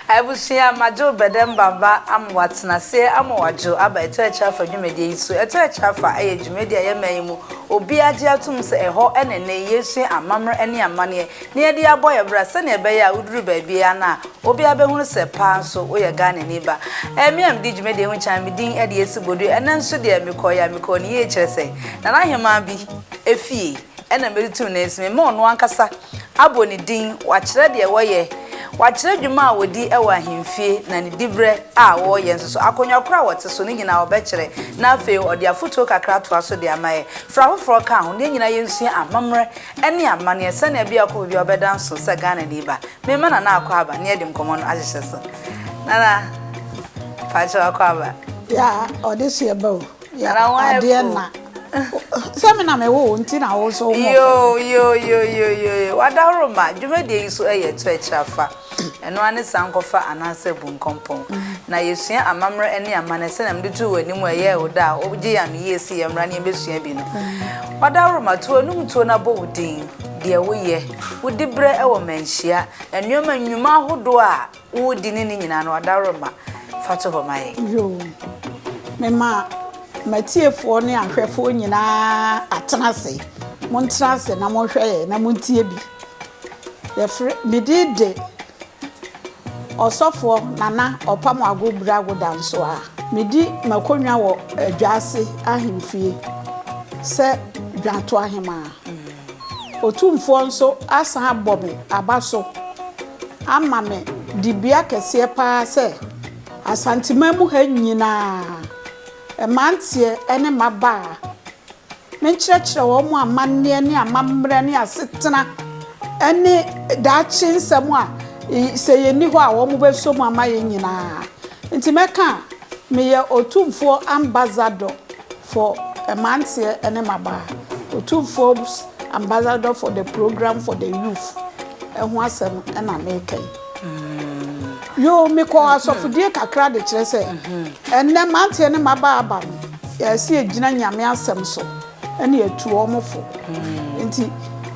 Abusua, Madwo Bɛdɛmba ba ama ɔatsena ase ama ɔadwo aba Ɛtɔ Akyire Afa dwumadie yi so. Ɛtɔ Akyire Afa yɛ dwumadie a yɛma yi mu obiara gye atom sɛ ɛhɔ na ɛnnɛ yi yɛresua amammerɛ ne amanneɛ na yɛde abɔ yɛn bra sɛnea ɛbɛyɛ a woduru baabiara no a obiara bɛhunu sɛ paa nso woyɛ Ghanani ba. Ɛyɛ me a medi dwumadie ho kan, me din de Esi Bodui. Ɛnnɛ nso deɛ mekɔeɛ a mekɔɔ no yie kyerɛ sɛ Nana Ahemaa bi fie. na mede too ne nsa mu, mema ɔno ankasa abɔ ne din, wakyerɛ deɛ wɔyɛ, wakyerɛ dwuma a wɔdi wɔ ahemfie, na ne diberɛ a wɔyɛ nso so, akonnwa korɔ a wɔte so, ne nyina ara ɔbɛkyerɛ, na afei ɔde afotuo kakra atoa so de ama yɛn, fra afoforɔ ka ho, na yɛn nyinaa yɛnsua amammerɛ ne amanneɛ sɛdeɛ ɛbɛyɛ a ɔkɔ baabi a ɔbɛda nso sɛ Ghanani ba. Mema Nana akɔ aba na yɛde nkɔmmɔ no ahyehyɛ so. Nana, pakyɛ wakɔ aba. Yeah, ɔde so yɛba o. Yɛ adeɛ na. Sɛ me na me wo nti na wo nso wo mɔ. Yo yo yo yo yo yo. Wadaworo ma dwumadie yi so ɛyɛ to akyira fa. Ɛno ane san kɔfa anaasɛ bu nkɔmpɔn. Na yɛsua amammerɛ ne amanɛ sɛnea mede too w'anim a ɛyɛɛ wo dɛ a wogye yɛn ano yie se yɛn mmra ne yɛn bɛsua bi no. Wadaworo ma to w'anum tuo na bɔ wo din, deɛ woyɛ, wodi berɛ wɔ manhyia, nnoɔma nnwuma ahodoɔ a. Wo di ne ne nyinaa no adaworoma fa to hɔ ma yɛn. Yoo mema matiefoɔ ne ahwɛfoɔ nyinaa atena ase montena ase na monhwɛ yɛn na montie bi yɛfrɛ me din de ɔsɔfoɔ Nana Ɔpam Ago Brago Dansoa medi m'akonnwa wɔ Adwaase ahemfie sɛ Dwatoahemaa. Otumfoɔ nso asan abɔ me aba so ama me dibea kɛseɛ pa ara sɛ Asanteman mu ha nyina ara, mmeranteɛ ne mmabaa, menkyerɛkyerɛ wɔn amanneɛ ne amammerɛ ne asetena ne daakye nsɛm a sɛ yɛnni hɔ a wɔbɛsɔ mu ama yɛn nyina ara. Nti mɛka a, meyɛ Otumfoɔ Ambassador. for Mmeranteɛ ne Mmabaa, Otumfuo's Ambassador for the Programme for the Youth, ho asɛm na mereka yi. Yoo, mekɔɔ asɔfodie kakra de kyerɛ sɛ ɛnnɛ mmeranteɛ ne mmabaa aba no, yɛsɛ yɛgyina Nyame asɛm so na yɛtu wɔn fo. Nti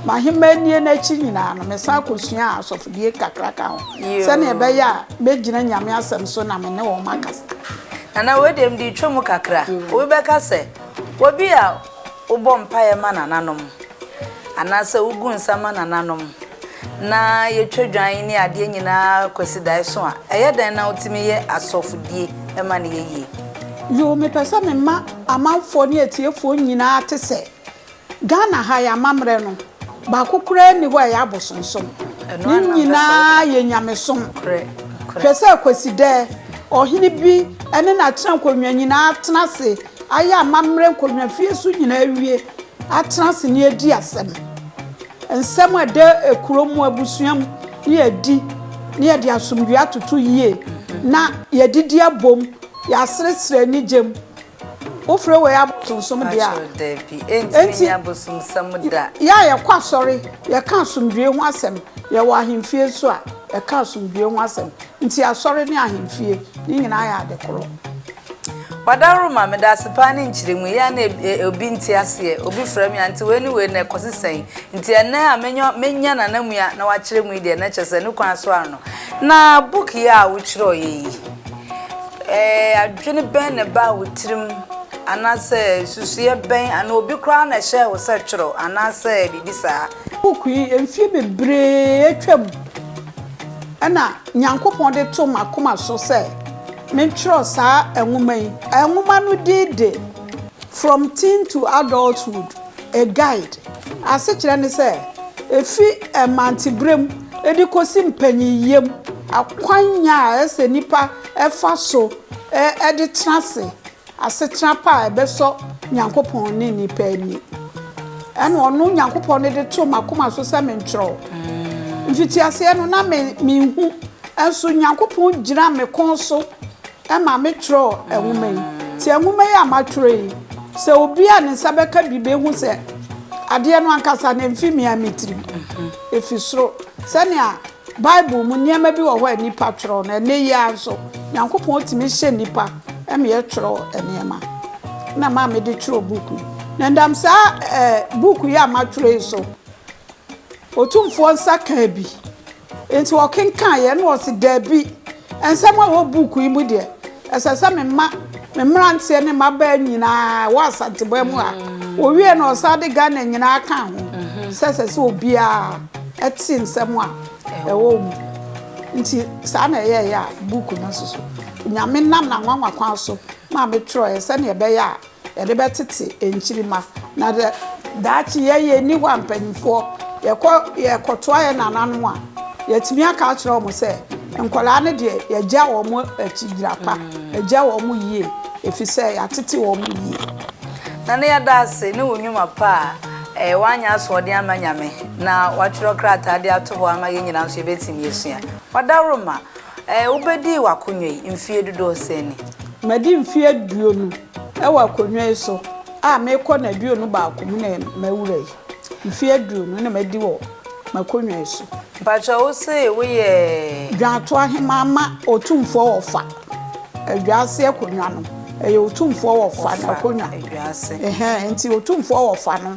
m'ahemmaa nie no akyi nyinaa no, mesan kɔsuaa asɔfodie kakra ka ho sɛdeɛ ɛbɛyɛ a mɛgyina Nyame asɛm so na me ne wɔn akasa. Nana, wei deɛ mede retwa mu kakra. Obi bɛka sɛ, Obi a wobɔ mpaeɛ ma nananom, anaasɛ wogu nsa ma nananom, na yɛtwa dwan ne adeɛ nyinaa Kwasidaeɛso a, ɛyɛ dɛn na wotumi yɛ asɔfodie ma no yɛ yie? Yoo, mepɛ sɛ mema amanfoɔ ne atiefoɔ nyinaa te sɛ Ghana ha yɛ amammerɛ no baako koraa nni hɔ a ɛyɛ abosonsom. Ne nyinaa yɛ nyamesom. Hwɛ sɛ Kwasida ɔhene bi ne n'atena nkonnwa nyinaa atena ase ayɛ amammerɛ nkonnwa fie so nyinaa awie atena ase ne adi asɛm. Nsɛm a ɛda kuro mu abusua mu ne yɛadi ne yɛde asomdwoeɛ atoto yie na yɛadidi abom, yɛaseresere anigye mu. Wofrɛ wei abosonsom de a, enti yɛ a yɛkɔ asɔre, yɛka asomdwoe ho asɛm, yɛwɔ ahemfie nso a, yɛka asomdwoe ho asɛm. Enti asɔre ne ahemfie, ne nyinaa yɛ ade koro. Wadaworo ma me da ase paa ne nkyerɛmu. Ɛyɛ a na obi nte aseɛ, obi frɛ me a, nti wei ne wei no ɛkɔsi sɛn? Nti ɛnnɛ a menya n'anammu a na wakyerɛ mu yi deɛ, na kyerɛ sɛ ne kwan so ara no. Na book yi a wotwerɛeɛ yi, Ɛɛ, adwene bɛn na ɛbaa wo tirim, anaasɛ nsusuiɛ bɛn, anaa obi koraa na ɛhyɛɛ wo sɛ twerɛ, anaasɛ biribi saa? Book yi, mfeɛ bebree atwam na Nyankopɔn de too m'akoma so sɛ mentwerɛ saa nwoma yi. Nwoma no din de From Teen to Adulthood. A guide asekyerɛ ne sɛ efi mmanteberem de kosi mpanyinyam, akwan a ɛsɛ sɛ nnipa fa so de tena ase asetra pa a ɛbɛsɔ Nyankopɔn ne nnipa ani. Ɛnna ɔno Nyankopɔn no de too m'akoma so sɛ menkyerɛw. Mfitiaseɛ no, na minhu, nso Nyankopɔn gyina me kɔn so Ɛma metwerɛɛ nwoma yi. Nti nwoma yi a matwerɛ yi, sɛ obi a ne nsa bɛka bi bɛhu sɛ adeɛ no ankasa no ɛmfi me ara me tirim. Ɛfi soro. Sɛnea Bible mu nneɛma bi wɔ hɔ a nnipa twerɛ no, ɛnnɛ yi ara nso, Nyankopɔn tumi hyɛ nnipa ma yɛtwerɛ nneɛma. Ɛna ɛma mede twerɛɛ book yi. Na ɛnam saa ɛɛ book yi a matwerɛ yi so, Otumfoɔ nsa kaa bi. Enti ɔkenkaeɛ na ɔse, Dabi, nsɛm a ɛwɔ book yi mu deɛ, ɛsɛ sɛ mema me mmeranteɛ ne mmabaa nyinaa a ɛwɔ Asanteman mu ha. Ɔwieɛ na ɔsan de Ghana nyinaa kaa ho sɛ ɛsɛ sɛ obiara te nsɛm a ɛwɔ mu. Nti saa na ɛyɛeɛ a book no soso. Onyame nam n'anwanwa kwan so maa metwerɛeɛ sɛdeɛ ɛbɛyɛ a Yɛde bɛtete nkyirimma. Na dɛ daakye yɛyɛ nni hɔ a mpanimfoɔ yɛkɔ yɛkɔtoa yɛn nananom a, yɛatumi aka akyerɛ wɔn sɛ nkwadaa no deɛ yɛagya wɔn akyi gyina pa, yɛagya wɔn yie ɛfiri sɛ yɛatete wɔn yie. Nana yɛda ase ne wo nnwuma pa a ɛyɛ woanyɛ asoɔden ama Nyame na woatwerɛ krataa de ato hɔ ama yɛn nyinaa nso yɛbɛtumi asua. Wadaworo ma Ɛɛ, wobɛdii w'akonnwa yi mfeɛ dodoɔ sɛn ni? Madi mfeɛ aduonu wɔ akonnwa yi so a merekɔ nnaduonu baako mu na mawura yi. Mfeɛ aduonu na madi wɔ m'akonnwa yi so. Mpakyɛw, wo se woyɛ. Dwaato Aheman ma Otumfoɔ Wɔfa Adwaase akonnwa no. Ɛyɛ Otumfoɔ Wɔfa n'akonnwa. Wɔfa Adwaase. Ɛhɛn, nti Otumfoɔ Wɔfa no.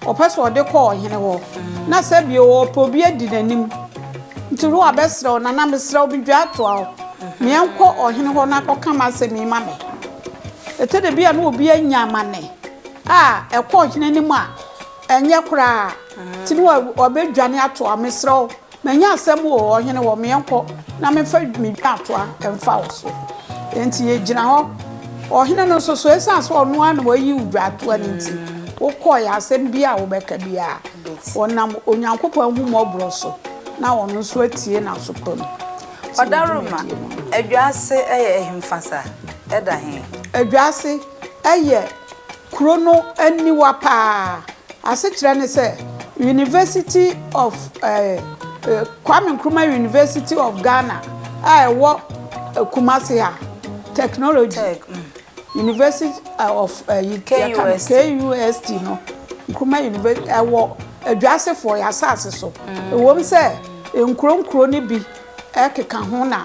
Ɔpɛ sɛ ɔde kɔ ɔhene hɔ, na sɛ bio ɔpɛ obi adi n'anim. Nti Ruah bɛsrɛ wo, Nana, mesrɛ wo, midwaa toa wo, ma yɛnkɔ ɔhene hɔ na kɔka m'asɛm yi ma me. Ɛtɔ da bi a na obi anya amanne a ɛkɔ ɔhene anim a, ɛnyɛ koraa, nti na wabɛdwane atoa wo. Mesrɛ wo, Manya asɛm o, ɔhene wɔ me yɛnkɔ na memfa me dwaatoa mfa wo so. Enti yɛgyina hɔ. Ɔhene no nso so, ɛsiane sɛ ɔno ara na wayi wo dwaatoa no nti, wokɔeɛ. Asɛm biara a wobɛka biara, ɔnam Onyankopɔn ahummɔborɔ so na ɔno nso atie n'aso pa mu. Ɔdaroma, Adwaase yɛ ɛhemfa sa? Ɛda he? Adwaase yɛ Kuro no aniwa paa. Asekyerɛ ne sɛ, University of Kwame Nkrumah University of Ghana a ɛwɔ Kumasi ha, Technology University of KUST no, Nkrumah University, ɛwɔ Adwasefoɔ, yɛn asase so. Ɛwom sɛ nkuro nkuro no bi keka ho na.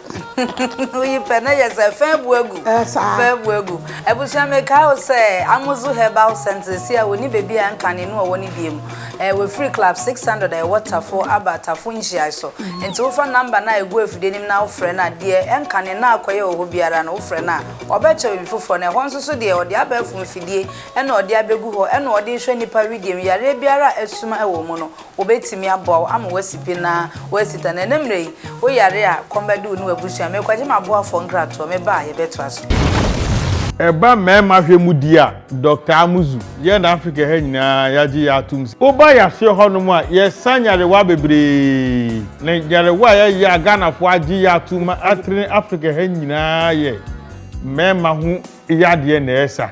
Woyi pɛ na yɛ sɛ fɛn bu agu. Fɛn bu agu. Abusua mi ka o sɛ Amuzu Herbal Center si a wɔni beebi a nka ne no ɔwɔ ne bie mu. Ɛɛ wɔfiri Club 600 a ɛwɔ Tafo aba Tafo nhyiae so. Nti wofa number no a egu afidie nim na wofrɛ no a deɛ ɛnka ne na akɔyɛ wɔ hɔ biara no wofrɛ no a ɔbɛkyɛ baabi foforɔ na ɛhɔ nso so deɛ ɔde abɛɛfo mfidie ɛna ɔde abegu hɔ ɛna ɔde hwɛ nipa wedeɛ mu yareɛ biara a asuma ɛwɔ mu no Wobetumi aboa wo ama woasi pi na woasi tan. Ɛnnɛ mmerɛ yi, wo yare a, kɔm bɛde wo ne w'abusua. Merekɔgye m'aboafoɔ nkratoɔ. Meba a, yɛbɛtoa so. Ɛba mmarima hwɛ mu deɛ a, Dɔkta Amuzu, yɛn na Afrika ha nyinaa yɛagye yɛn atom sɛ, woba yɛaseɛ hɔnom a, yɛsa nyarewa bebree. Na nyarewa a yɛyɛ a Ghanafoɔ agye yɛn atom ma atrene Afrika ha nyinaa yɛ mmarima ho yadeɛ na ɛsa.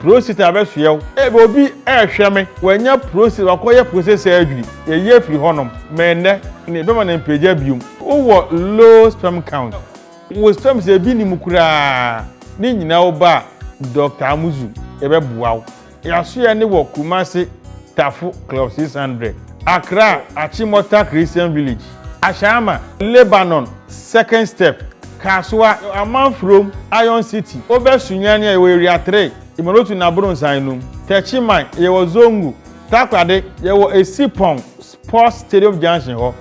Prosit abɛsoɛ wo. Ebia obi rehwɛ me, wanya prosit, wakɔyɛ prosit surgery, yɛyi afiri hɔnom, mmɛn nnɛ na yɛbɛma no mpagya biom. Wowɔ low sperm count, wo sperms no ebi nni mu koraa, ne nyinaa wo ba a, Dɔkta Amuzu, yɛbɛboa wo. Yɛasoɛ no wɔ Kumasi, Tafo, Club 600, Accra, Achimota Christian Village. Ahyɛama, Lebanon, Second Step, Kasoa, Amanfurom, Iron City, Obɛ Sunyani a yɛwɔ Area Three, Imorotu na Abronnsan no mu, Techiman, yɛwɔ Zongo, Takoradi, yɛwɔ Esipong, Sports Stadium Junction hɔ.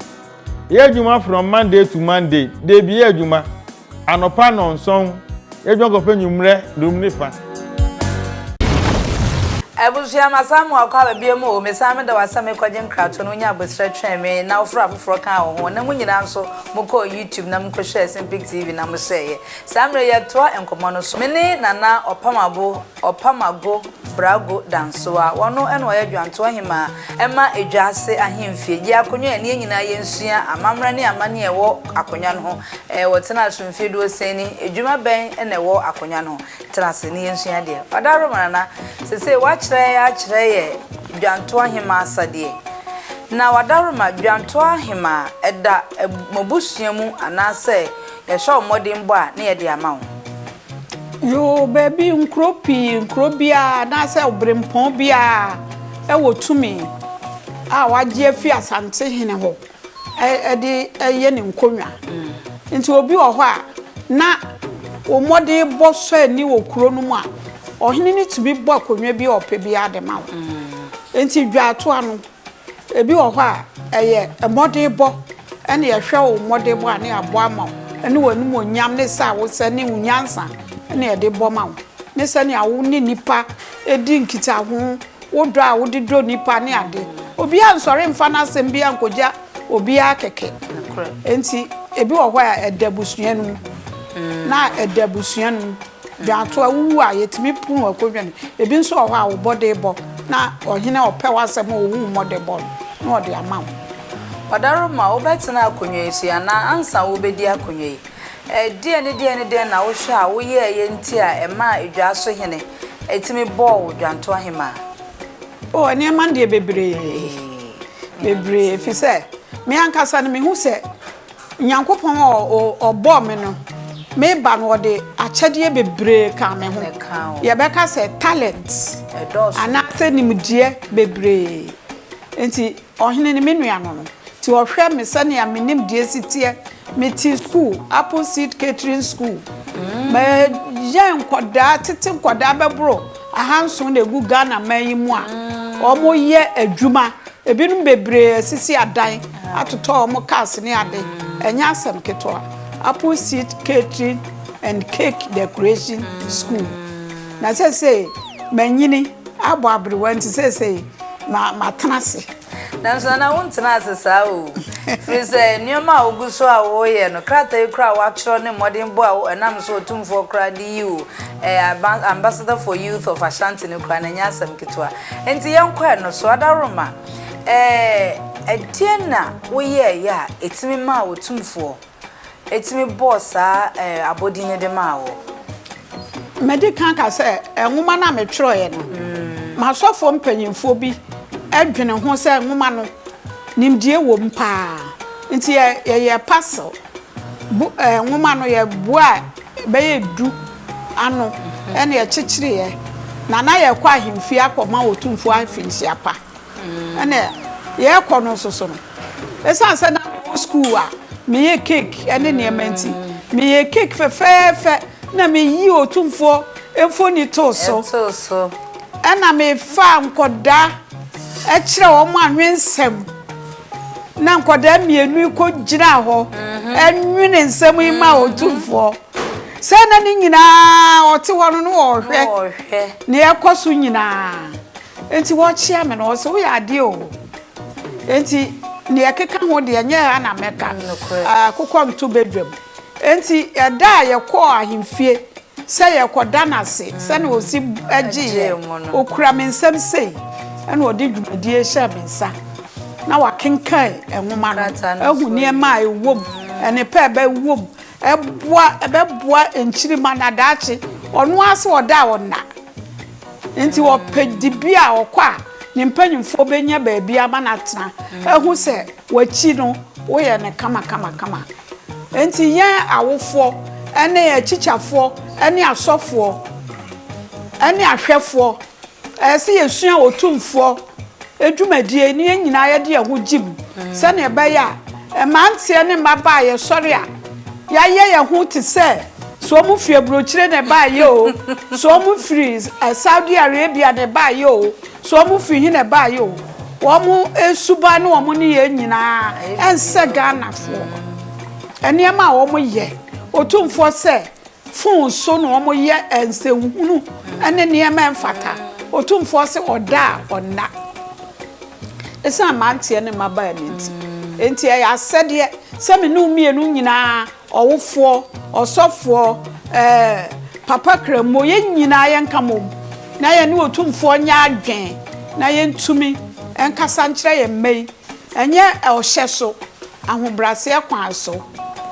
Yɛyɛ adwuma from Monday to Monday, dabi yɛ adwuma. Anɔpa nnɔnson, yɛdwen kɔpɛ nwumerɛ dum ne fa. Abusua, masan mo akɔ aba biom o, mesan meda wo ase a mekɔ gye nkrato no, wonya abosrɛ twɛn me na wo frɛ afoforɔ kaa wo ho, na mo nyinaa nso mo kɔɔ YouTube na mo kɔ hwɛɛ Simpig TV na mo hyɛɛeɛ. Saa mmerɛ yi yɛ toa nkɔmmɔ no so. Me ne Nana Ɔpamabo. Ɔpam ago, Brago Dansoa. Ɔno na ɔyɛ Dwantoa Hemaa ma Edwa Ase Ahemfie. Gye akonnwa a ɛne yɛn nyinaa yɛnsua amammerɛ ne amanneɛ a ɛwɔ akonnwa no ho. Wɔtenaa so mfeɛ duosia ni. Adwuma bɛn na ɛwɔ akonnwa no ho? Tena ase na yɛnsua adeɛ. Ɔdaworo Manana, seesei woakyerɛ yɛn akyerɛ yɛn Dwantoa Hemaa asadeɛ. Na Ɔdaworo ma, Dwantoa Hemaa, ɛda mo abusua mu anaasɛ yɛhyɛ wo mmɔdenbɔ a na yɛde ama wo? Yoo, baabi, nkuro pii, nkuro biara anaasɛ ɔberempɔn biara wɔ tumi a wɔagye afiri Asantehene hɔ de yɛ ne nkonnwa. Nti obi wɔ hɔ a, na wo mmɔden bɔ sɔ ani wɔ kuro no mu a, ɔhene no tumi bɔ akonnwa bi a ɔpɛ biara de ma wo. Nti dwaatoa no, Ebi wɔ hɔ a, ɛyɛ mmɔdenbɔ na yɛhwɛ wo mmɔdenbɔ a, na yɛabɔ ama wo, ne w'animuonyam, ne sɛ a wosɛ, ne wo nyansa na yɛde bɔ ma wo, ne sɛnea wo ne nnipa di nkitaho, wo dɔ a wode dɔ nnipa ne ade. Obiara nsɔre mfa n'asɛm biara nkogya obiara kɛkɛ. Enti ebi wɔ hɔ a, ɛda abusua no mu, na ɛda abusua no mu. De ato a wowu a yɛtumi po mu akɔdwane. Ebi nso wɔ hɔ a wobɔ de bɔ na ɔhene ɔpɛ w'asɛm a ɔhu mmɔde bɔ no na ɔde ama wo. Ɔdarima, wobɛtena akonnwa yi so yi anaa ansa wobɛdi akonnwa yi? Ɛdeɛn ne deɛn ne deɛn na wohwɛ a woyɛeɛ nti a ɛmaa edwaa so hene tumi bɔɔ wo dwantoa hemaa? O, nneɛma deɛ bebree, bebree, ɛfiri sɛ me ankasa no mehu sɛ Nyankopɔn a Ɔbɔɔ me no, me ba no, Ɔde akyɛdeɛ bebree kaa me ho. Yɛbɛka sɛ talent anaasɛ nimdeɛ bebree. Enti ɔhene ne me nua no no, nti ɔhwɛ me sɛnea me nimdeɛ si teɛ. Mete sukuu, Appleseed Catering School. Mɛyɛ nkwadaa, tete nkwadaa bɛboro. ahanson na ɛgu Ghana man yi mu a wɔyɛ adwuma. Ɛbinom bebree asisi adan, atotɔ wɔn cars ne ade. Ɛnyɛ asɛm ketewa. Apple Seed Catering and Cake Decoration School. Na seesei manyini abɔ aberewa nti seesei matena ase. Nanso Nana, wontena ase saa oo, ɛfiri sɛ nneɛma a wogu so a woreyɛ no, krataa yi koraa a woatwerɛ ne mmɔdenbɔ a ɛnam so Otumfoɔ koraa de yi wo ɛɛ Ambassador for Youth of Ashanti no koraa no, ɛnyɛ asɛm ketewa. Enti yɛnkɔ ɛno so. Adaworoma, ɛɛ ɛdeɛn na woyɛeɛ a ɛtumi maa Otumfoɔ. tumi bɔɔ saa abɔdin no de maa wo? Madi kan aka sɛ nwoma no a metwerɛeɛ no, m'asɔfoɔ mpanimfoɔ bi dwene ho sɛ nwoma no, nimdeɛ wom paa. Nti yɛyɛɛ parcel bo nwoma no, yɛboaa bɛyɛ du ano na yɛkyekyereeɛ, na na yɛrekɔ ahemfie akɔma Otumfoɔ Afinsiapa. Ɛnna yɛrekɔ no nso so no, ɛsiane sɛ na mewɔ sukuu a meyɛ cake ne nneɛma nti, meyɛ cake fɛfɛɛfɛ na meyi Otumfoɔ mfoni too so. Ɛnna mefaa nkwadaa kyerɛ wɔn anwensɛm. Na nkwadaa mmienu yi kɔgyinaa hɔ nwene nsɛm yi ma Otumfoɔ. Sɛ na ne nyinaa ɔte hɔ no na ɔrehwɛ nea ɛkɔ so nyinaa. Enti wɔkyea me no, wɔse, Woyɛ adeɛ o. Enti deɛ ɛkeka ho deɛ, ɛnyɛ ha na mɛka. Akokɔ nto badwam. Enti ɛda a yɛkɔɔ ahemfie sɛ yɛrekɔda no ase, sɛnea ɔsi gyeeɛ, ɔkura me nsam sei, ɛna ɔde dwumadie hyɛɛ me nsa, na wakenkan nwoma no, ahu nneɛma a ɛwɔ mu, nnepa a ɛbɛwɔ mu, ɛboa, ɛbɛboa nkyirimma na daakye, ɔno ara sɛ ɔda a ɔnna. Enti wɔpɛ dibea a ɔkɔ a ne mpanyimfoɔ bɛnya baabi ama no atena, ahu sɛ w'akyi no woyɛ no kamakamakama. Enti yɛn awofoɔ ne akyikyafoɔ ne asɔfoɔ ne ahwɛfoɔ, ɛsɛ sɛ yɛsua Otumfoɔ. dwumadie ne yɛn nyinaa yɛde yɛn ho gyem sɛdeɛ ɛbɛyɛ a mmeranteɛ ne mmabaa a yɛsɔre a yɛayɛ yɛn ho te sɛ sɛ wɔn firi aburokyire na ɛbaayɛ o sɛ wɔn firi eh, Saudi Arabia na ɛbaayɛ o sɛ wɔn firi he na ɛbaayɛ o wɔn suban ne wɔn ne yɛn nyinaa ɛnsɛ Ghanafoɔ nneɛma a wɔyɛ otumfoɔ sɛ Fon so na wɔyɛ nsɛnhunu ne nneɛma a ɛmfata. Otumfoɔ se, Ɔda a ɔnna. Esiane mmeranteɛ ne mmabaa no nti. Enti ɛyɛ asɛdeɛ sɛ me ne wo mmienu nyinaa, ɔwofoɔ, ɔsɔfoɔ, ɛɛ, Papa Krammo, yɛn nyinaa yɛnka mmom na yɛne Otumfoɔ nyɛ adwene na yɛntumi nkasa nkyerɛ yɛn mma yi. Ɛnyɛ ɔhyɛ so, Ahobraseɛ kwan so,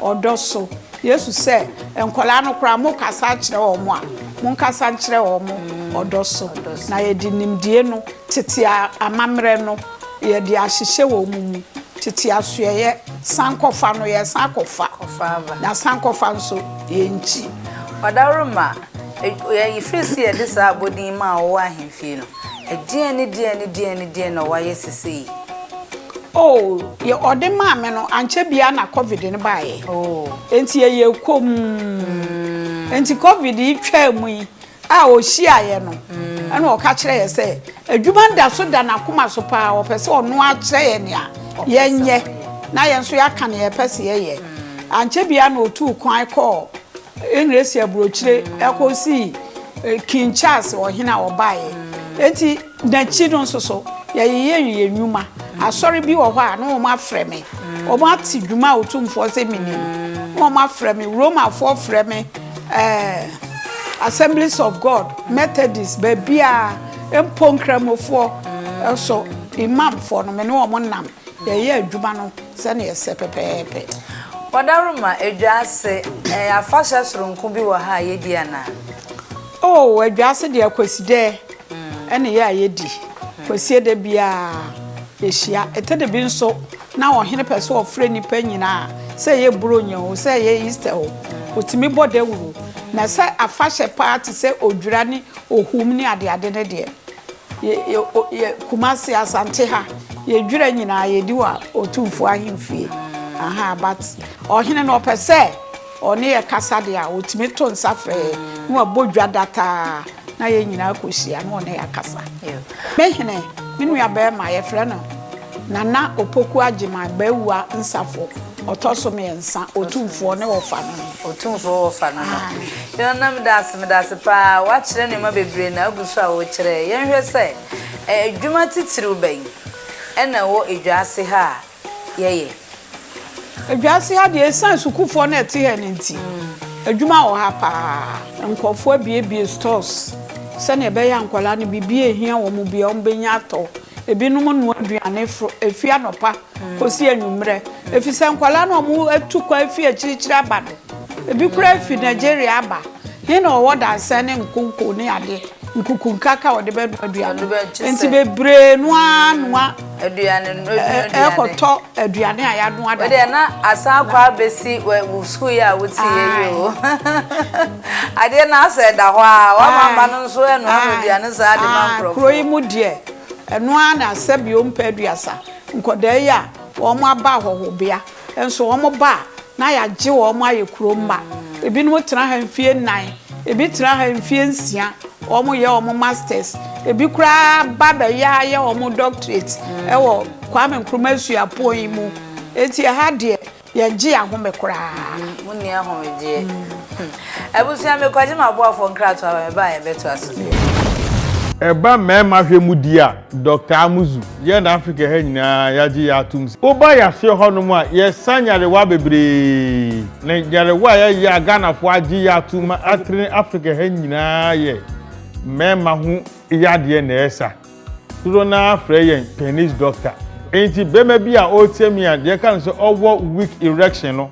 ɔdɔ so. Yesu sɛ, nkwadaa no koraa mokasa kyerɛ wɔn a, monkasa nkyerɛ wɔn ɔdɔ so. Na yɛde nimdie no, tete amammerɛ no, yɛde ahyehyɛ wɔn mu. Tete asoɛeɛ, sankɔfa no, yɛsan kɔfa. Na sankɔfa nso, yɛnkyi. Ɔdaworo ma, yɛfiri se yɛde saa abɔdin maa wɔwɔ ahemfie no. Ɛdeɛn ne deɛn ne deɛn ne deɛn na wayɛ sesei? Oh, deɛ ɔde maa me no, ankyɛ biara na Covid no baeɛ. Oh. Enti ɛyɛ komm. Mm. Enti Covid yi twaa mu yi a ɔhyiaeɛ no, mm. ɛna ɔka kyerɛ yɛ sɛ, adwuma da so da n'akoma so paa, ɔpɛ sɛ ɔno akyerɛ yɛ nea yɛnyɛ na yɛn nso yɛaka nea yɛpɛ sɛ yɛyɛ. Mm. Ankyɛ biara na ɔtuu kwan kɔɔ Engresi aburokyire kɔsii King Charles ɔhene a ɔbaeɛ. Enti n'akyi no nso so yɛyeyɛ yɛn nnwuma. Asɔre bi wɔ hɔ a na wɔafrɛ me. Wɔate dwuma a Otumfoɔ sɛ menni no na wɔafrɛ me. Romafoɔ frɛ me ɛɛ Assemblies of God, Methodist, baabiara, mpo Nkramofoɔ nso, Imamfoɔ no me ne wɔn nam. Yɛyɛ adwuma no sɛnea ɛsɛ pɛpɛɛpɛ. Wɔdaroma Adwaase, Ɛyɛ afahyɛ soronko bi wɔ ha a yedi anaa? Oh, Adwaase deɛ Kwasidɛ ɛne yɛ a yɛdi. Kwasie da biara yɛhyia. Ɛtɛ da bi nso na ɔhene pɛ sɛ ɔfrɛ nnipa nyinaa, sɛ ɛyɛ Buronya o, sɛ ɛyɛ Easter o, ɔtumi bɔ dawuro. Na sɛ afahyɛ paa te sɛ Odwira ne Ohum ne adeade no deɛ, Yɛ Kumasi Asante ha yɛ dwira nyinaa yɛ di wɔ Otumfuo ahemfie aha but ɔhene no ɔpɛ sɛ ɔne yɛ kasa de a ɔtumi to nsa fɛɛ na wabɔ dwa dataa na yɛ nyinaa kɔhyia na ɔne yɛ akasa. Me hene me nua bɛrima yɛfrɛ no Nana Opoku Agyemang, Bawuwa Nsafo, ɔtɔ so mmiɛnsa, Otumfoɔ ne Ɔfa no no. Otumfoɔ wɔ Ɔfa no no. Aane. Yona meda ase, meda ase paa, woakyerɛ nneɛma bebree na agu so a worekyerɛ yɛn. Yɛnhwɛ sɛ adwuma titiriw bɛn na ɛwɔ dwa ase ha a yɛyɛ? Ewiase ha deɛ ɛsiane sukuufoɔ no a ɛte ha no nti, adwuma wɔ ha paa. Nkurɔfoɔ abuebue stores sɛdeɛ ɛbɛyɛ a nkwadaa no biribi a ɛhia wɔn biara wɔbɛnya atɔ. Ebinom nnoa aduane firi anɔpa kɔsi anwummerɛ ɛfiri sɛ nkwadaa no a wɔatu kwan afiri akyirikyiri aba no, ebi koraa firi Nigeria aba. He na ɔwɔ dansɛ ne nkonko ne adeɛ nkuku nkraka ɔde bɛ noa aduane nti bebree no ara noa aduane no aduane ɛkɔtɔ aduane a yanoa da wɔde na asan kɔ abɛsi wɔ sukuu yɛ a wote yɛ yi o adeɛ no asɛ ɛda hɔ a wɔama mma no nso ɛnoa no aduane saa de ma nkurɔfoɔ kuro yi mu deɛ ɛnoa na asɛ bio mpɛ aduasa nkɔdaa yi a wɔn aba ahɔhobea Nso wɔba a, na yɛagye wɔn ayɛ kuro mma. Ebinom tena ha mfeɛ nnan, ebi tena ha mfeɛ nsia, wɔyɛ wɔn masters, ebi koraa ba bɛyɛ ayɛ wɔn doctorate wɔ Kwame Nkrumah suapɔn yi mu. Eti ɛha deɛ yɛgye ahome koraa. Monni ahomegyeɛ. Abusua, mekɔgye m'aboafoɔ nkratoa ba me ba a yɛbɛtoa so. Ɛba mmarima hwɛ mu di a, Dɔkta Amuzu, Yɛn Afrika ha nyinaa yɛagye yɛ atom sɛ woba yɛaseɛ hɔnom a yɛsa nyarewa bebree na nyarewa a yɛyɛ a Ghanafoɔ agye yɛ atom ma atene Afrika ha nyinaa yɛ mmarima ho yadeɛ na ɛsa. Dodoɔ no ara frɛ yɛn penis doctor. Enti barima bi a ɔreteam yi a deɛ ɛka no sɛ ɔwɔ weak erection no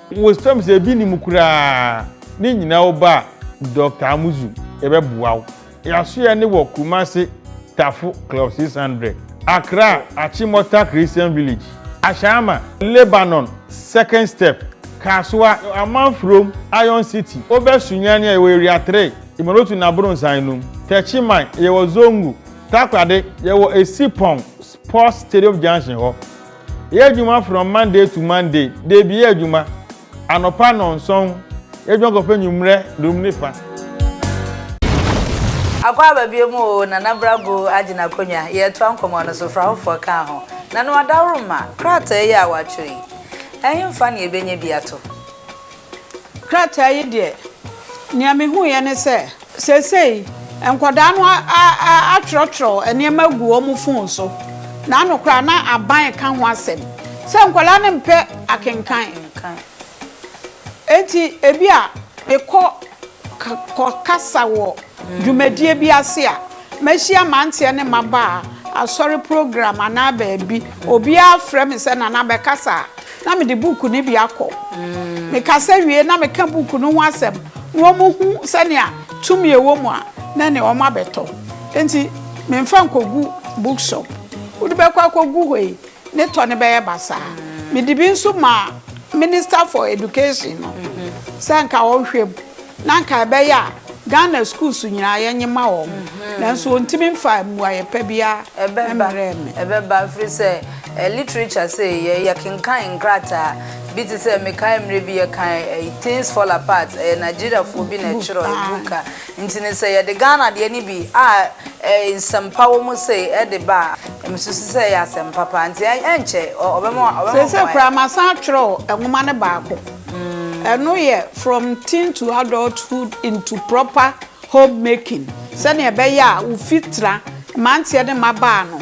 Wosam sɛ ebi nni mu koraa ne nyinaa wo ba Doctor Amuzu yɛbɛboa wo. Yasoɛ ne wɔ Kumasi Tafo Club six hundred, Accra Achimota Christian Village, Ashama, Lebanon Second Step, Kasoa, Amanfrom, Iron City, Obɛ Sunyani a yɛwɔ Area three, Imolotu ne Abronsan nom, Techiman yɛwɔ Zongo, Takoradi yɛwɔ Esipong Sports Stadium Junction hɔ. Yɛ adwuma from Monday to Monday, Dabi yɛ adwuma, anɔpa nnɔnson, yɛ adwuma kɔpɛ anwummerɛ dunum ne fa. Akɔ aba bio mu oo Nana bra gu agye n'akonwa Yɛɛtoa nkɔmɔ no so, fra hofoɔ kaa ho Na no adaworo mma, krataa yi a woatwerɛ yi Ɛhemfa ne yɛbɛnya bi ato? krataa yi deɛ, nea mehuiɛ ne sɛ, seesei nkwadaa no atwerɛtwerɛ nneɛma agu wɔn fon so, na ano koraa na aban reka ho asɛm sɛ nkwadaa no mpɛ akenkan. Enti ebi a mekɔ kɔkasa wɔ dwumadie bi ase a, mɛhyia mmeranteɛ ne mmabaa, asɔre program anaa baabi, obiara frɛ me sɛ, Nana bɛkasa a, na mede buuku no bi akɔ. Mekasa wie na meka buuku no ho asɛm na wɔhu sɛnea tumi a ɛwɔ mu a na ne wɔabɛtɔ. Enti memfa nkɔgu bookshop. Wode bɛkɔ akɔgu hɔ yi, ne tɔ no bɛyɛ basaa. Mede bi nso maa Minister for Education no sɛ nka ɔnhwɛ mu. Na anka ɛbɛyɛ a Ghana schools nyinaa yɛnye ma wɔn, nanso wɔntumi mfaa mmuaeɛ pa biara mmerɛɛ me. Ɛbɛba, ɛfiri sɛ literature sei yɛ yɛkenkan nkrataa bi te sɛ mekae mmerɛ bi yɛkan Things Fall Apart, ɛyɛ Nigeriafoɔ bi na ɛtwerɛeɛ, book a, nti no sɛ yɛde Ghana deɛ no bi a nsɛm pa wɔ mu sei de ba a, mesusu sɛ ɛyɛ asɛm papa, nti ɛnkyɛ ɔbɛma wɔayɛ. Seesei koraa masan atwerɛ nwoma no baako. Ɛno yɛ From Teen to Adulthood into Proper Homemaking, sɛnea ɛbɛyɛ a wo fitra, mmeranteɛ ne mmabaa no,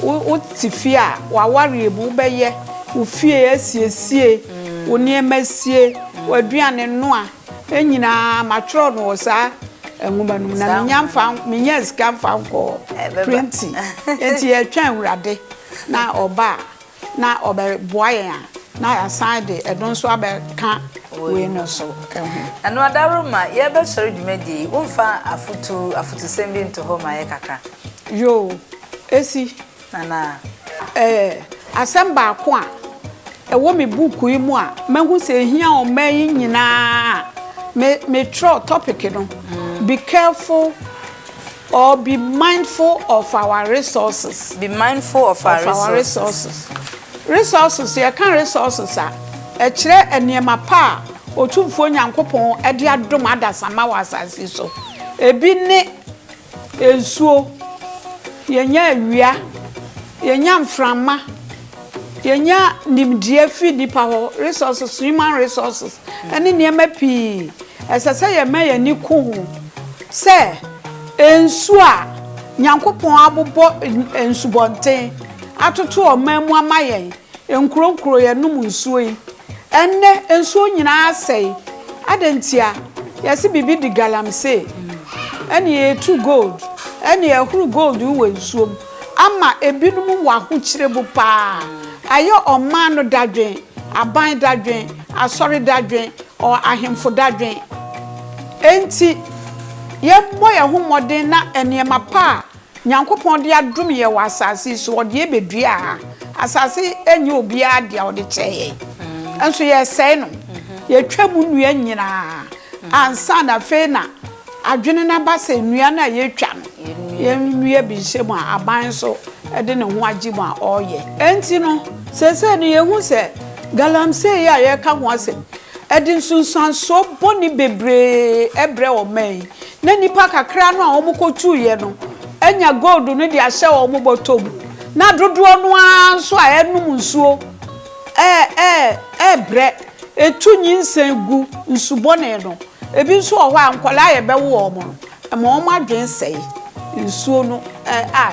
wo, wote fie a, w'awareɛ mu, wobɛyɛ wo fie asiesie, wo nneɛma sie, w'aduane noa, ne nyinaa, matwerɛ no wɔ saa nwoma no mu, na menya mfa, menyaa sika mfa nkɔɔ printing, enti yɛtwɛn Awurade na Ɔba a. na ɔbɛboa yɛn a, na yɛasan de ɛno nso abɛka wei no so ho. Ɛno adaworoma, yɛrebɛsɔre dwumadie yi, womfa afotu, afotusɛm bi nto hɔ mma yɛn kakra? Yoo, ɛsi. Nana. Ɛɛ, asɛm baako a ɛwɔ me buuku yi mu a mahu sɛ ɛhia ɔman yi nyinaa a, me, metwerɛɛ topic no, Be Careful. Or be mindful of our resources. Be mindful of our resources. Of our resources. Resources, yɛka resources a, ɛkyerɛ nneɛma pa a Otumfoɔ Nyankopɔn de adom adasamma wɔ asase yi so. Ebi ne nsuo, yɛnya awia, yɛnya mframa, Yɛnya nimdeɛ fi nnipa hɔ, resources, human resources, ne nneɛma pii. Ɛsɛ sɛ yɛma yɛn ani ku ho sɛ nsu a Nyankopɔn abobɔ nsubɔnten atoto ɔman mu ama yɛn, nkuro nkuro yɛnom nsuo yi, ɛnnɛ nsuo nyinaa asɛe. Adɛn ntia? Yɛse biribi di galamsee, ɛnneɛ yɛtu gold, ɛnneɛ ɛhoro gold yi wɔ nsuo mu. Ama ebinom wɔ ahokyere mu paa. Ayɛ ɔman no dadwen, aban dadwen, asɔre dadwen, or ahemfo dadwen. Enti, yɛbɔ yɛn ho mmɔden na nneɛma pa a Nyankopɔn de adom yɛn wɔ asase yi so, ɔde yɛn bɛdua ha. Asase yi nyɛ obiara dea, ɔde kyɛɛ yɛn. Nso yɛresɛe no. Yɛtwam nnua nyinaa ansa na afei na. Adwene no aba sɛ nnua no a yɛatwa no yɛnnua bi nhyɛ mu a aban nso de ne ho agye mu a ɔreyɛ. Enti no, seesei no yɛhu sɛ galamsey yi a yɛreka ho asɛm yi de nsunsuansoɔ bɔne bebree brɛ ɔman yi na nnipa kakra no a wɔkɔtuiɛ no anya gold no de ahyɛ wɔn bɔtɔ mu na dodoɔ no ara nso a ɛrenom nsuo rebrɛ. Etu nyinsɛn gu nsu bɔne no. Ebi nso wɔ hɔ a, nkwadaa a yɛbɛwo wɔn no, ɛma wɔn adwene sɛe. Nsuo no a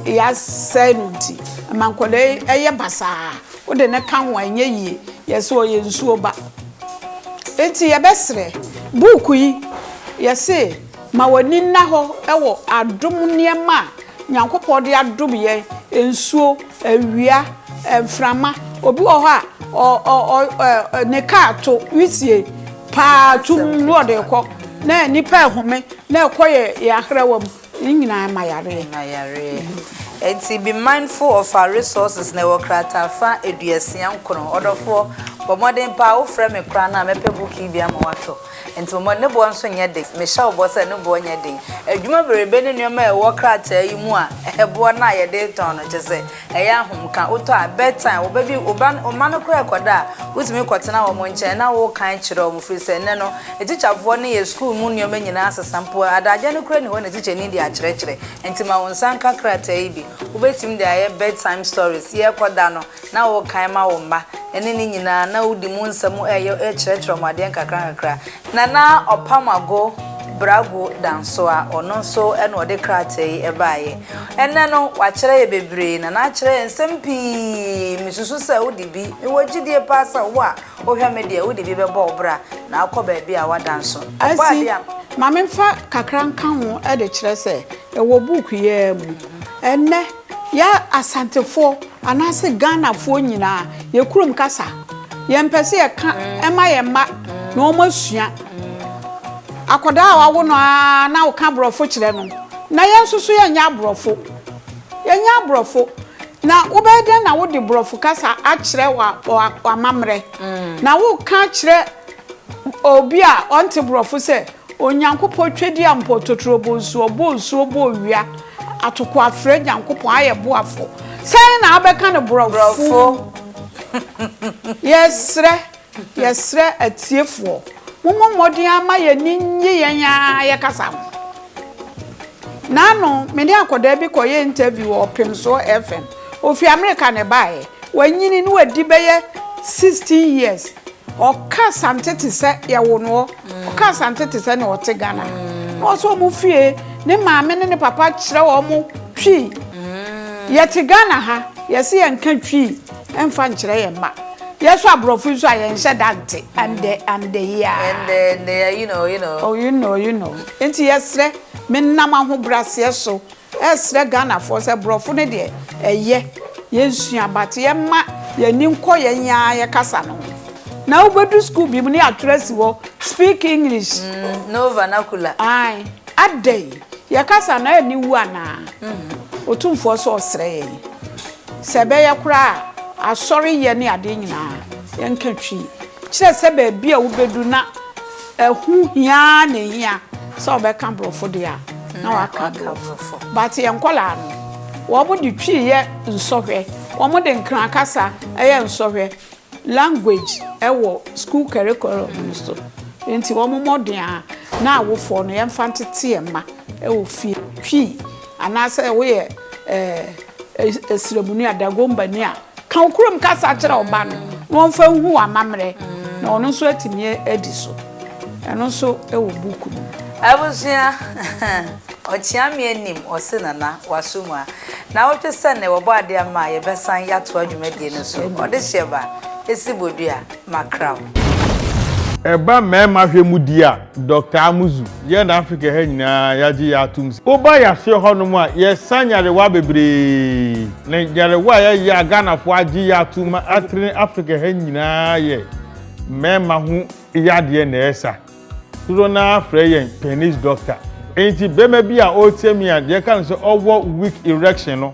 yɛasɛe no nti, ɛma nkwadaa yi yɛ basaa. Wode no ka ho a, ɛnyɛ yie. Yɛse ɔyɛ nsuo ba. Enti yɛbɛsrɛ, buuku yi, yɛse ma w'ani nna hɔ wɔ adom nneɛma a. Nyankopɔn de adom yɛn, nsuo, awia, mframa, obi wɔ hɔ a ne kaa to, wisie paa tum ne ɔde rekɔ, na nnipa ɛhome na ɛkɔ yɛn ahrawa mu, ne nyinaa ma yareɛ. Ɛnti be mindful of our resources na ɛwɔ krataa fa aduasia nkono. Ɔdɔfoɔ, bɔ mmɔden paa, wofrɛ me koraa no a mɛpɛ book yi bi ama watɔ. Enti momma ne boɔ nso nyɛ den. Mehyɛ wo bɔ sɛ ne boɔ nyɛ den. Adwuma bereebe ne nneɛma a ɛwɔ krataa yi mu a ɛboɔ no a yɛde retɔn no, kyerɛ sɛ, ɛyɛ ahomka. Wotɔ a, bed time, wo ba bi, wo ba, wo mma no koraa rekɔda a, wotumi kɔtena wɔn nkyɛn na wokan kyerɛ wɔn, ɛfiri sɛ nnɛ no, atikyafoɔ no yɛ sukuu mu nneɛma nyinaa sesa. Mpo adagya no koraa nni hɔ na tikyani de akyerɛkyerɛ. Enti ma wo nsa nka krataa yi bi. Wobɛtumi de ayɛ bed time stories. Yɛrekɔda no, na wokan ma wo mma, ɛne ne nyinaa, na wodi mu nsɛm ɛyɛ kyerɛkyerɛ wɔn adeɛ nkakrankakra. Na na Ɔpamago Bragu Dansoa, ɔno nso na ɔde krataa yi baeɛ. Ɛnnɛ no, wakyerɛ yɛn bebree, na na akyerɛ yɛn nsɛm pii. Mesusu sɛ wode bi, mewɔ gyidie paa sɛ wo a wohwɛ me deɛ, wode bi bɛbɔ wo bra, na akɔ baabi a woada nso. Ɔbɔ adeɛ a. Ma memfa kakra nka ho de kyerɛ sɛ ɛwɔ buuku yi ara mu. Ɛnnɛ. Yɛ Asantefoɔ anaase Ghanafoɔ nyinaa yɛ kurom kasa yɛ mpɛ sɛ yɛ ka ɛma yɛ mma na wɔn asua. Akɔdaa a wawo no ara na wo ka aborɔfo kyerɛ no na yɛn nso so yɛ nyɛ aborɔfo. Yɛ nyɛ aborɔfo na wo bɛyɛ dɛn na wo de borɔfo kasa akyerɛ wa wa w'amammerɛ na wo ka kyerɛ obi a ɔnte borɔfo sɛ Onyankopɔn twedeɛ mpo totorobo nso ɔbɔɔ nsuo bɔɔ wia atoko afrɛ Nyankopɔn ayɛ boafo sɛn na abɛka no borɔfo yɛsrɛ yɛsrɛ atiefoɔ momɔ mmɔden ama yɛni nnye yɛn aa yɛkasa ho na ano mene akɔdaa bi kɔyɛ interview wɔ ɔpemsoɔ FM Ɔfiri Amerika na ɛbaeɛ. Wanyini na wadi bɛyɛ 16 years. Ɔka Asante te sɛ yɛwo no hɔ. Ɔka Asante te sɛ nea ɔte Ghana. Na ɔwɔ sɛ wɔn fie, ne maame ne ne papa kyerɛ wɔn Twi. Yɛte Ghana ha, yɛse yɛnka Twi mfa nkyerɛ yɛn mma. Yɛn nso aborɔfo yi nso a yɛnhyɛ da nte. Ɛndɛ, ɛndɛ yi ara. Ɛndɛ, ɛndɛ yi ara, you know, you know. Oh, you know, you know. Enti yɛsrɛ, menam ahobraseɛ so Ɛsrɛ Ghanafoɔ sɛ brɔfo no deɛ ɛyɛ yɛnsua but yɛmma yɛani nkɔ yɛn aa yɛ kasa no ho na wobɛdu school bi mu ne yɛatwerɛ asi hɔ speak English No vernacular. Ae adɛn yɛ kasa no ani wu anaa Otumfoɔ sɛ ɔsrɛ yɛn sɛ ɛbɛyɛ koraa asɔreyɛ ne adeɛ nyinaa yɛnka twi kyerɛ sɛ baabi a wobɛdu na Ɛho hia ara na ehia sɛ wɔbɛka Borɔfo deɛ a, na wɔaka Aborɔfo. But yɛn nkwadaa no, wɔde Twi yɛ nsɔhwɛ, wɔde Nkran kasa yɛ nsɔhwɛ, language wɔ school curriculum no so. Enti wɔn mmɔden a na awofoɔ no yɛmfa ntete yɛn mma wɔ fie. Twi, anaasɛ woyɛ eh, Asiramuni a, Dagombani a, Ka wo kurom kasa kyerɛ wo ba no na ɔmfa nhu wo amammerɛ na ɔno nso atumi adi so. Ɛno nso wɔ book no mu. Abusua, Ɔkyeameɛ nim ɔse Nana, waso mu a. Nnawɔtwe sɛ nnɛ wɔbɔ adeɛ ama a yɛbɛsan yɛatoa dwumadie no so. Ɔdehyeɛ ba, ɛsi bodua. Macrau. Ɛba mmarima hwɛ mu deɛ a, Dɔkta Amuzu, yɛ na Afrika ha nyinaa yɛagye yɛ atom sɛ, woba yɛaseɛ hɔnom a, yɛsa nyarewa bebree. Na nyarewa a yɛyɛ a Ghanafoɔ agye yɛ atom ma atere ne Afrika ha nyinaa yɛ mmarima ho yadeɛ na ɛsa. Dodoɔ no ara frɛ yɛn penis doctor. Enti barima bi a ɔretie me a, deɛ ɛka no sɛ ɔwɔ weak erection no,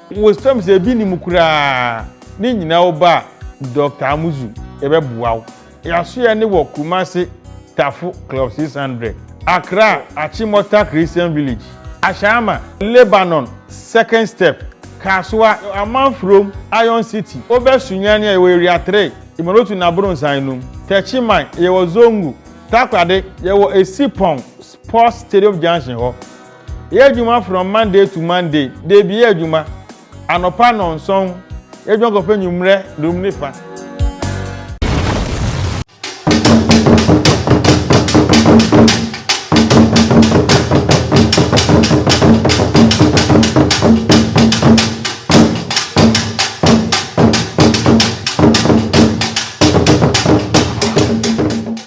Wosrɛ me sɛ ebi nni mu koraa ne nyinaa wo ba Doctor Amuzu yɛbɛboa wo. Yasoɛ ne wɔ Kumasi Tafo Club six hundred, Accra Achimota Christian Village, Ashama, Lebanon Second Step, Kasoa, Amanfurom Iron City, Obɛ Sunyani a yɛwɔ Area three, Imolotu ne Abronsan enum, Techiman yɛwɔ Zongo, Takoradi yɛwɔ Esipong Sports Stadium Junction hɔ. Yɛ adwuma from Monday to Monday, dabi yɛ adwuma anɔpa nnɔnson, yɛ adwuma kɔpɛ nwummerɛ durum ne fa.